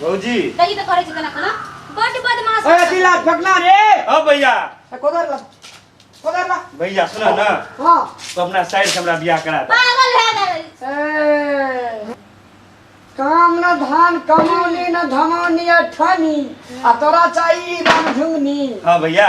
भौजी तही तो करे छी तना खाना बड बदमाश ए अथी ला फेकना रे ओ भैया ए, कोदर ला कोदर ला भैया सुन ना हां तू अपना साइड से हमरा बियाह करा दे पागल है ना ए काम न धान कमौनी न धमौनी अठनी आ तोरा चाहिए राम झुंगनी हाँ भैया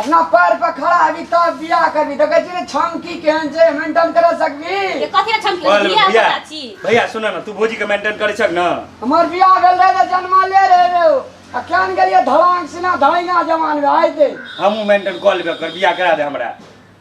अपना पैर पर खड़ा हेबी तब बियाह करबी देखै छी ने छमकी केहन छै मेंटेन कर सकबी ये कथी ला छमकी ओए, बियाह भैया करा छी भैया सुन न तू भौजी के मेंटेन करै छक न हमर बियाह भेल रहे तऽ जन्मा ले रहे रे ओ। आ केहन गेलियै धड़ांग सिना धड़ैया जवान भए आइ दे हमहूँ मेंटेन कऽ लेबे कर बियाह करा दे हमरा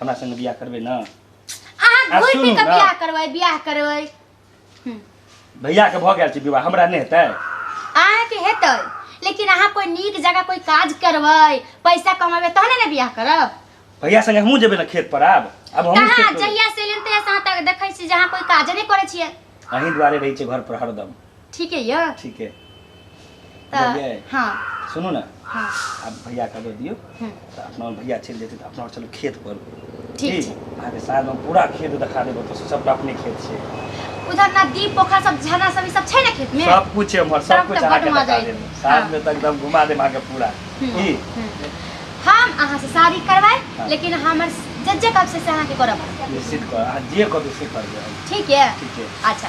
हमरा संगे बियाह करबे ना अहाँ आ घुर सुनू पी के ना। बियाह करबै बियाह करबै भैया के भऽ गेल छै विवाह हमरा नहि हेतै अहाँ के हेतै लेकिन अहाँ कोई नीक जगह कोई काज करबै पैसा कमेबै तहने ने बियाह करब भैया संगे हमहूँ जेबै ना खेत पर आब आब हमहूँ कहाँ खेत पर जहिया से एलियन तहिया से अहाँ तक देखै छी जे अहाँ कोई काजे नहि करै छियै अहीं दुआरे रहै छै घर पर हरदम ठीक है या ठीक है तऽ बुझलियै? हाँ सुनू ने हाँ आब भैया के दऽ दियौ हम्म, तऽ अपना ओर भैया चलि जेतै तऽ अपना ओर चलू खेत पर ठीक की? छै। अहाँके साँझ हम पूरा खेत देखा देब ओतऽ से सबटा अपने खेत छै उधर नदी पोखर सब झरना सब ई सब छै ने खेत में सब कुछ छै हमर सब तब कुछ तऽ अहाँके बड्ड मजा देखा एतै। देब साँझ में तऽ एकदम घुमा देब अहाँके पूरा हम्म, की हम्म। हम अहाँ से शादी करवाए हाँ। लेकिन हमर जज्जे कब से से अहाँ के करब निश्चित कर अहाँ जे कहबै से करबै हम ठीक है ठीक छै अच्छा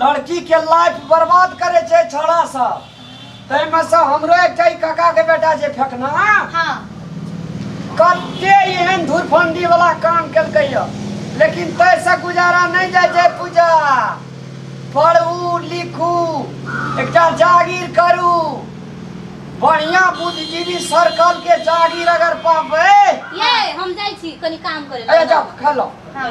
लड़की के लाइफ बर्बाद करे छै छोड़ा सब तै में से हमरो एकटा ई काका के बेटा जे फेकना हाँ कते एहन धुरफंडी वाला काम केलकै य लेकिन तै से गुजारा नहीं जाय छै पूजा पढ़ू लिखू एकटा जागीर करू बढ़िया बुद्धिजीवी सर्कल के जागीर अगर पाबै ये हम जाइ छी कनी काम करे अरे जाओ खा लो हाँ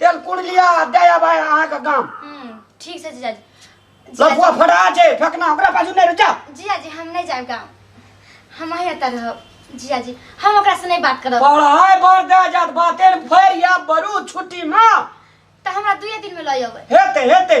तेल कुड़ लिया आ दे आबा अहाँ के गाम हम्म, ठीक छै जीजाजी लफुआ फटा छै फेकना ओकरा पाछू नहीं रुचा जीजाजी हम नहीं जाएब गाँव हम अहीं एतऽ रहब जीजाजी हम ओकरा से नहीं बात करब पढ़ाई बर दे जात बातेर फेर या बरू छुट्टी में तऽ हमरा दुए दिन में लऽ अबै हेते हेते